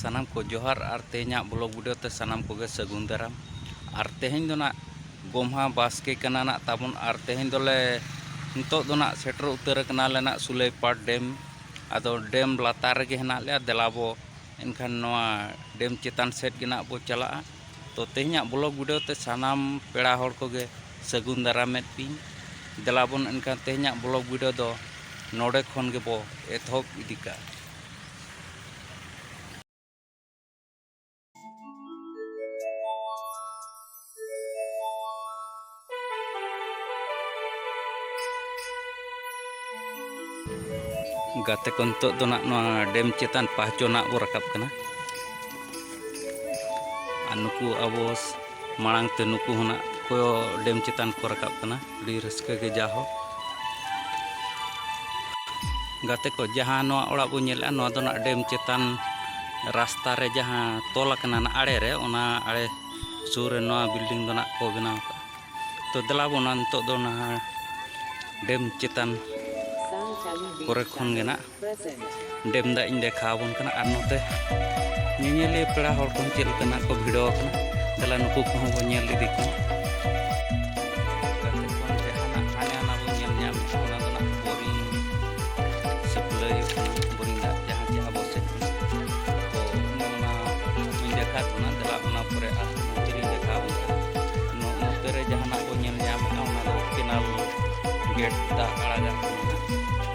ᱥᱟᱱᱟᱢ ᱠᱚ ᱡᱚᱦᱟᱨ ᱟᱨ ᱛᱮᱦᱮᱧᱟᱜ ᱵᱞᱚᱜ ᱵᱷᱤᱰᱤᱭᱳ ᱛᱮ ᱥᱟᱱᱟᱢ ᱠᱚᱜᱮ ᱥᱟᱹᱜᱩᱱ ᱫᱟᱨᱟᱢ ᱟᱨ ᱛᱮᱦᱮᱧ ᱫᱚ ᱱᱟᱜ ᱜᱚᱢᱦᱟ ᱵᱟᱥᱠᱮ ᱠᱟᱱᱟ ᱱᱟᱜ ᱛᱟᱵᱚᱱ ᱟᱨ ᱛᱮᱦᱮᱧ ᱫᱚᱞᱮ ᱱᱤᱛᱚᱜ ᱫᱚ ᱱᱟᱜ ᱥᱮᱴᱮᱨ ᱩᱛᱟᱹᱨ ᱟᱠᱟᱱᱟᱞᱮ ᱱᱟᱜ ᱥᱩᱞᱟᱹᱭᱯᱟᱲ ᱰᱮᱢ ᱟᱫᱚ ᱰᱮᱢ ᱞᱟᱛᱟᱨ ᱨᱮᱜᱮ ᱦᱮᱱᱟᱜ ᱞᱮᱭᱟ ᱫᱮᱞᱟ ᱵᱚ ᱮᱱᱠᱷᱟᱱ ᱱᱚᱣᱟ ᱰᱮᱢ ᱪᱮᱛᱟᱱ ᱥᱮᱫ ᱜᱮ ᱱᱟᱜ ᱵᱚ ᱪᱟᱞᱟᱜᱼᱟ ᱛᱚ ᱛᱮᱦᱮᱧᱟᱜ ᱵᱞᱚᱜ ᱵᱷᱤᱰᱤᱭᱳ ᱛᱮ ᱥᱟᱱᱟᱢ ᱯᱮᱲᱟ ᱦᱚᱲ ᱠᱚᱜᱮ ᱥᱟᱹᱜᱩᱱ ᱫᱟᱨᱟᱢᱮᱫ ᱯᱤᱧ ᱫᱮᱞᱟ ᱵᱚᱱ ᱮᱱᱠᱷᱟᱱ ᱛᱮᱦᱮᱧᱟᱜ ᱵᱞᱚᱜ ᱵᱷᱤᱰᱤᱭᱳ ᱫᱚ ᱱᱚᱰᱮ ᱠᱷᱚᱱ ᱜᱮᱵᱚ ᱮᱛᱚᱦᱚᱵ ᱤᱫᱤ ᱠᱟᱜᱼᱟ ᱜᱟᱛᱮ ᱠᱚ ᱱᱤᱛᱚᱜ ᱫᱚ ᱱᱟᱜ ᱱᱚᱣᱟ ᱰᱮᱢ ᱪᱮᱛᱟᱱ ᱯᱟᱦᱪᱚ ᱱᱟᱜ ᱵᱚ ᱨᱟᱠᱟᱵ ᱠᱟᱱᱟ ᱟᱨ ᱱᱩᱠᱩ ᱟᱵᱚ ᱢᱟᱲᱟᱝ ᱛᱮ ᱱᱩᱠᱩ ᱦᱚᱸ ᱱᱟᱜ ᱠᱚ ᱰᱮᱢ ᱪᱮᱛᱟᱱ ᱠᱚ ᱨᱟᱠᱟᱵ ᱠᱟᱱᱟ ᱟᱹᱰᱤ ᱨᱟᱹᱥᱠᱟᱹ ᱜᱮ ᱡᱟᱦᱳ ᱜᱟᱛᱮ ᱠᱚ ᱡᱟᱦᱟᱸ ᱱᱚᱣᱟ ᱚᱲᱟᱜ ᱵᱚᱱ ᱧᱮᱞᱮᱜᱼᱟ ᱱᱚᱣᱟ ᱫᱚ ᱱᱟᱜ ᱰᱮᱢ ᱪᱮᱛᱟᱱ ᱨᱟᱥᱛᱟ ᱨᱮ ᱡᱟᱦᱟᱸ ᱛᱚᱞ ᱟᱠᱟᱱᱟ ᱱᱟᱜ ᱟᱲᱮ ᱨᱮ ᱚᱱᱟ ᱟᱲᱮ ᱥᱩᱨ ᱨᱮ ᱱᱚᱣᱟ ᱵᱤᱞᱰᱤᱝ ᱫᱚ ᱱᱟᱜ ᱠᱚ ᱵᱮᱱᱟᱣ ᱠᱟᱜᱼᱟ ᱛᱚ ᱫᱮᱞᱟ ᱵᱚᱱ ᱱᱤᱛᱚᱜ ᱫᱚ ᱱᱟᱦᱟᱜ ᱰᱮᱢ ᱪᱮᱛᱟᱱ ᱠᱚᱨᱮ ᱠᱷᱚᱱ ᱜᱮ ᱱᱟᱜ ᱰᱮᱢ ᱫᱟᱜ ᱤᱧ ᱫᱮᱠᱷᱟᱣ ᱟᱵᱚᱱ ᱠᱟᱱᱟ ᱟᱨ ᱱᱚᱛᱮ ᱧᱮᱧᱮᱞᱤᱭᱟᱹ ᱯᱮᱲᱟ ᱦᱚᱲ ᱠᱚ ᱪᱮᱫ ᱞᱮᱠᱟ ᱱᱟᱜ ᱠᱚ ᱵᱷᱤᱲᱟᱹᱣ ᱟᱠᱟᱱᱟ ᱛᱟᱦᱚᱞᱮ ᱱᱩᱠᱩ ᱠᱚᱦᱚᱸ ᱵᱚᱱ ᱧᱮᱞ ᱤᱫᱤ ᱠᱚᱣᱟ ᱜᱮᱴ ᱫᱟᱜ ᱟᱲᱟᱜᱟᱜ ᱠᱟᱱᱟ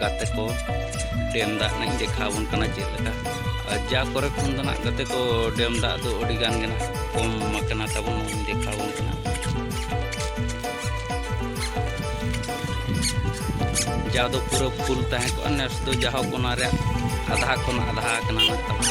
ᱜᱟᱛᱮ ᱠᱚ ᱰᱮᱢ ᱫᱟᱜ ᱱᱟᱜ ᱤᱧ ᱫᱮᱠᱷᱟᱣ ᱟᱵᱚᱱ ᱠᱟᱱᱟ ᱪᱮᱫ ᱞᱮᱠᱟ ᱟᱨ ᱡᱟ ᱠᱚᱨᱮ ᱠᱷᱚᱱ ᱫᱚ ᱱᱟᱜ ᱜᱟᱛᱮ ᱠᱚ ᱰᱮᱢ ᱫᱟᱜ ᱫᱚ ᱟᱹᱰᱤ ᱜᱟᱱ ᱜᱮ ᱱᱟᱜ ᱠᱚᱢ ᱟᱠᱟᱱᱟ ᱛᱟᱵᱚᱱ ᱱᱚᱣᱟᱧ ᱫᱮᱠᱷᱟᱣ ᱟᱵᱚᱱ ᱠᱟᱱᱟ ᱡᱟ ᱫᱚ ᱯᱩᱨᱟᱹ ᱯᱷᱩᱞ ᱛᱟᱦᱮᱸ ᱠᱚᱜᱼᱟ ᱱᱮᱥ ᱫᱚ ᱡᱟᱦᱳᱠ ᱚᱱᱟ ᱨᱮᱭᱟᱜ ᱟᱫᱷᱟ ᱠᱷᱚᱱ ᱟᱫᱷᱟ ᱟᱠᱟᱱᱟ ᱱᱟᱜ ᱛᱟᱵᱚᱱ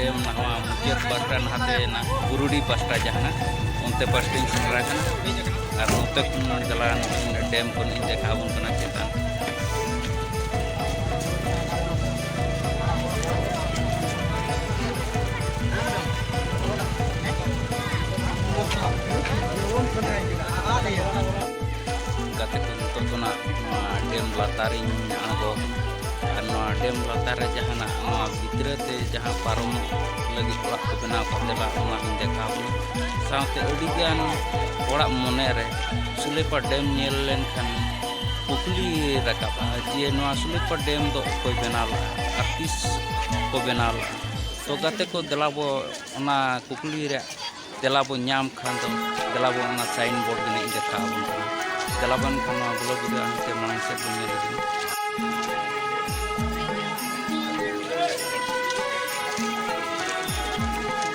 ᱰᱮᱢ ᱱᱟᱣᱟ ᱢᱩᱪᱟᱹᱫ ᱵᱟᱥ ᱨᱮ ᱱᱟᱦᱟᱛᱮᱱᱟ ᱵᱩᱨᱩᱰᱤ ᱯᱟᱥᱴᱟ ᱡᱟᱦᱟᱸ ᱚᱱᱛᱮ ᱯᱟᱥᱴᱟᱧ ᱥᱮᱴᱮᱨ ᱟᱠᱟᱱᱟ ᱟᱨ ᱱᱚᱛᱮ ᱠᱷᱚᱱ ᱪᱟᱞᱟᱣ ᱰᱮᱢ ᱠᱷᱚᱱ ᱤᱧ ᱫᱮᱠᱷᱟᱣ ᱟᱵᱚᱱ ᱠᱟᱱᱟ ᱪᱮᱛᱟᱱ ᱜᱟᱛᱮ ᱠᱚ ᱱᱤᱛᱚᱜ ᱫᱚ ᱱᱟᱜ ᱱᱚᱣᱟ ᱰᱮᱢ ᱞᱟᱛᱟᱨᱤᱧ ᱟᱬᱜᱚ ᱟᱨ ᱱᱚᱣᱟ ᱰᱮᱢ ᱞᱟᱛᱟᱨ ᱨᱮ ᱡᱟᱦᱟᱱᱟᱜ ᱱᱚᱣᱟ ᱵᱷᱤᱛᱨᱟᱹ ᱛᱮ ᱡᱟᱦᱟᱸ ᱯᱟᱨᱚᱢ ᱞᱟᱹᱜᱤᱫ ᱚᱲᱟᱜ ᱠᱚ ᱵᱮᱱᱟᱣ ᱠᱟᱛᱮ ᱞᱟ ᱚᱱᱟ ᱦᱚᱸᱧ ᱫᱮᱠᱷᱟᱣ ᱵᱚᱱᱟ ᱥᱟᱶᱛᱮ ᱟᱹᱰᱤᱜᱟᱱ ᱦᱚᱲᱟᱜ ᱢᱚᱱᱮᱨᱮ ᱥᱩᱞᱮᱯᱟ ᱰᱮᱢ ᱧᱮᱞ ᱞᱮᱱᱠᱷᱟᱱ ᱠᱩᱠᱞᱤ ᱨᱟᱠᱟᱵᱼᱟ ᱡᱮ ᱱᱚᱣᱟ ᱥᱩᱞᱮᱯᱟ ᱰᱮᱢ ᱫᱚ ᱚᱠᱚᱭ ᱵᱮᱱᱟᱣ ᱞᱮᱫᱼᱟ ᱟᱨ ᱛᱤᱥ ᱠᱚ ᱵᱮᱱᱟᱣ ᱞᱮᱫᱼᱟ ᱛᱚ ᱜᱟᱛᱮ ᱠᱚ ᱫᱮᱞᱟ ᱵᱚ ᱚᱱᱟ ᱠᱩᱠᱞᱤ ᱨᱮᱭᱟᱜ ᱛᱮᱞᱟ ᱵᱚᱱ ᱧᱟᱢ ᱠᱷᱟᱱ ᱫᱚ ᱫᱮᱞᱟ ᱵᱚᱱ ᱚᱱᱟ ᱥᱟᱭᱤᱱ ᱵᱳᱨᱰ ᱜᱮ ᱱᱟᱜ ᱫᱮᱠᱷᱟᱣ ᱟᱵᱚᱱ ᱠᱟᱱᱟ ᱫᱮᱞᱟ ᱵᱚᱱ ᱮᱱᱠᱷᱟᱱ ᱱᱚᱣᱟ ᱵᱞᱚᱜ ᱵᱷᱤᱰᱤᱭᱳ ᱦᱟᱱᱛᱮ ᱢᱟᱲᱟᱝ ᱥᱮᱫ ᱵᱚᱱ ᱧᱮᱞ ᱤᱫᱤ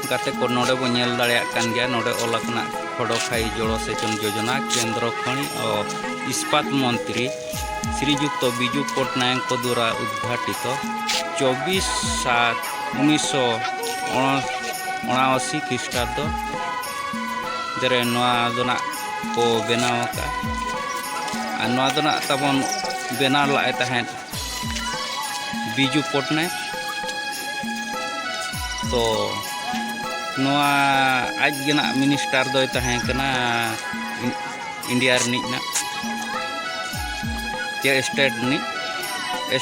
ᱜᱟᱛᱮ ᱠᱚ ᱱᱚᱰᱮ ᱵᱚᱱ ᱧᱮᱞ ᱫᱟᱲᱮᱭᱟᱜ ᱠᱟᱱ ᱜᱮᱭᱟ ᱱᱚᱰᱮ ᱚᱞ ᱟᱠᱟᱱᱟ ᱠᱷᱚᱰᱚᱠᱷᱟᱭ ᱡᱚᱲᱚ ᱥᱮᱪᱚᱱ ᱡᱳᱡᱚᱱᱟ ᱠᱮᱱᱫᱨᱚ ᱠᱷᱚᱱᱤ ᱤᱥᱯᱟᱛ ᱢᱚᱱᱛᱨᱤ ᱥᱨᱤᱡᱩᱠᱛᱚ ᱵᱤᱡᱩ ᱯᱚᱴᱱᱟᱭᱚᱠ ᱠᱚ ᱫᱩᱣᱟᱨᱟ ᱩᱫᱽᱜᱷᱟᱴᱤᱛᱚ ᱪᱚᱵᱽᱵᱤᱥ ᱥᱟᱛ ᱩᱱᱤᱥ ᱥᱚ ᱚᱬᱟᱣᱟᱥᱤ ᱠᱷᱨᱤᱥᱴᱟᱵᱽᱫᱚ ᱨᱮ ᱱᱚᱣᱟ ᱫᱚ ᱱᱟᱜ ᱠᱚ ᱵᱮᱱᱟᱣ ᱟᱠᱟᱫᱼᱟ ᱟᱨ ᱱᱚᱣᱟ ᱫᱚ ᱱᱟᱜ ᱛᱟᱵᱚᱱ ᱵᱮᱱᱟᱣ ᱞᱟᱜᱼᱟᱭ ᱛᱟᱦᱮᱸᱫ ᱵᱤᱡᱩ ᱯᱚᱴᱱᱟᱭᱚᱠ ᱛᱚ ᱱᱚᱣᱟ ᱟᱡ ᱜᱮ ᱱᱟᱜ ᱢᱤᱱᱤᱥᱴᱟᱨ ᱫᱚᱭ ᱛᱟᱦᱮᱸ ᱠᱟᱱᱟ ᱤᱱᱰᱤᱭᱟ ᱨᱤᱱᱤᱡ ᱱᱟᱜ ᱪᱮ ᱥᱴᱮᱴ ᱨᱤᱱᱤᱡ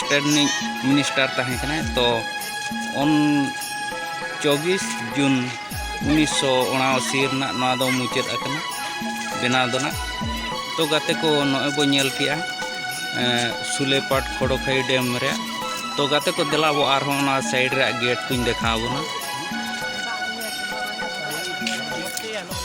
ᱥᱴᱮᱴ ᱨᱤᱱᱤᱡ ᱢᱤᱱᱤᱥᱴᱟᱨ ᱛᱟᱦᱮᱸ ᱠᱟᱱᱟᱭ ᱛᱚ ᱚᱱ ᱪᱚᱵᱵᱤᱥ ᱡᱩᱱ ᱩᱱᱤᱥᱥᱚ ᱩᱱᱟᱥᱤ ᱨᱮᱱᱟᱜ ᱱᱚᱣᱟ ᱫᱚ ᱢᱩᱪᱟᱹᱫ ᱟᱠᱟᱱᱟ ᱵᱮᱱᱟᱣ ᱫᱚ ᱱᱟᱜ ᱛᱚ ᱜᱟᱛᱮ ᱠᱚ ᱱᱚᱜᱼᱚᱭ ᱵᱚ ᱧᱮᱞ ᱠᱮᱜᱼᱟ ᱥᱩᱞᱮᱯᱟᱴ ᱠᱷᱚᱲᱚᱠᱷᱟᱹᱭ ᱰᱮᱢ ᱨᱮ ᱛᱚ ᱜᱟᱛᱮ ᱠᱚ ᱫᱮᱞᱟ ᱵᱚ ᱟᱨᱦᱚᱸ ᱚᱱᱟ ᱥᱟᱭᱤᱰ ᱨᱮᱭᱟᱜ ᱜᱮᱴ ᱠᱚᱧ ᱫᱮᱠᱷᱟᱣ ᱵᱚᱱᱟ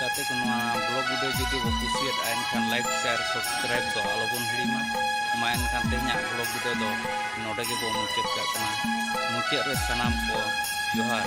ᱜᱟᱛᱮ ᱠᱚ ᱱᱚᱣᱟ ᱵᱞᱚᱜ ᱵᱷᱤᱰᱤᱭᱳ ᱡᱩᱫᱤ ᱵᱚ ᱠᱩᱥᱤᱭᱟᱫᱼᱟ ᱮᱱᱠᱷᱟᱱ ᱞᱟᱭᱤᱠ ᱥᱮᱭᱟᱨ ᱥᱟᱵᱥᱠᱨᱟᱭᱤᱵ ᱫᱚ ᱟᱞᱚᱵᱚᱱ ᱦᱤᱲᱤᱧᱟ ᱢᱟ ᱮᱱᱠᱷᱟᱱ ᱛᱮᱦᱮᱧᱟᱜ ᱵᱞᱚᱜ ᱵᱷᱤᱰᱤᱭᱳ ᱫᱚ ᱱᱚᱰᱮ ᱜᱮᱵᱚ ᱢᱩᱪᱟᱹᱫ ᱠᱟᱜ ᱠᱟᱱᱟ ᱢᱩᱪᱟᱹᱫ ᱨᱮ ᱥᱟᱱᱟᱢ ᱠᱚ ᱡᱚᱦᱟᱨ